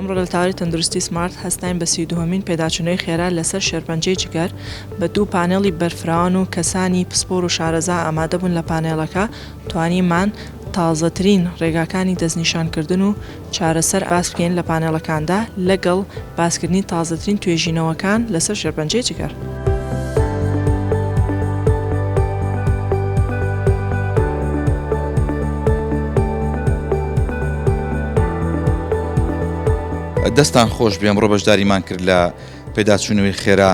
ئەمڕۆ لە تاری تەندروستی سمارت هەستاین بە سی دوهەمین پێداچوونەوەی خێرا لەسەر شێرپەنجەی جگەر بە دوو پانێڵی بەرفراوان و کەسانی پسپۆر و شارەزا ئامادەبوون لە پانێڵەکە توانیمان تازەترین ڕێگاکانی دەستنیشانکردن و چارەسەر باس بکەین لە پانێڵەکاندا لەگەڵ باسکردنی تازەترین توێژینەوەکان لەسەر شێرپەنجەی جگەر. دەستتان خۆش بێ ئەمڕۆ بەشداریمان کرد لە پێداچوونەوەی خێرا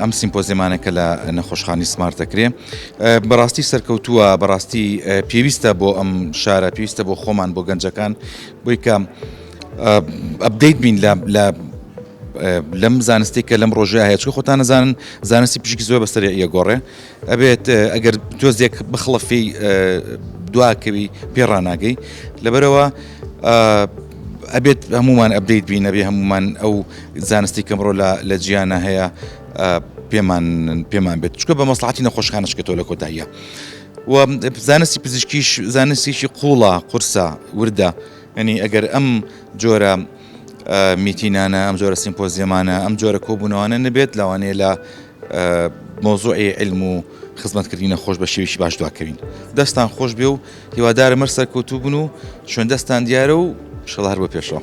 ئەم سیمپۆزیمانە کە لە نەخۆشخانی سمارت دەکرێ بەڕاستی سەرکەوتووە بەڕاستی پێویستە بۆ ئەم شارە پێویستە بۆ خۆمان بۆ گەنجەکان بۆی کە ئەبدەیت بین لە لەم زانستی کە لەم ڕۆژە هەیە چکە خۆتان نزانن زانستی پشکی زۆر بەسەر یەگۆڕێ ئەبێت ئەگەر تۆزێک بخڵەفی دواکەوی پێڕناگەی لەبەرەوە ئەبێت هەمومان ئەبدەیت بینەبێ هەمومان ئەو زانستی کەمڕۆ لە جیانە هەیە پێمان پێمان بێت چکە بە مەسلحاتی نەخۆشخانە شکێتەوە لە کۆتاییە و زانستی پزیشکیش زانستیشی قوڵە قورسە وردە ینی ئەگەر ئەم جۆرە میتینانە ئەم جۆرە سیمپۆزیەمانە ئەم جۆرە کۆبوونەوانە نەبێت لەوانەیە لە مۆزۆی علم و خزمەتکردنی نەخۆش بە شێویشی باش دواکەوین دەستان خۆش بێ و هیوادارم هەر سەرکەوتوو بن و شوێن دەستان دیارە و شڵ هەر بە پێشەوە.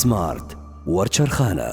سمارت وەرچەرخانە.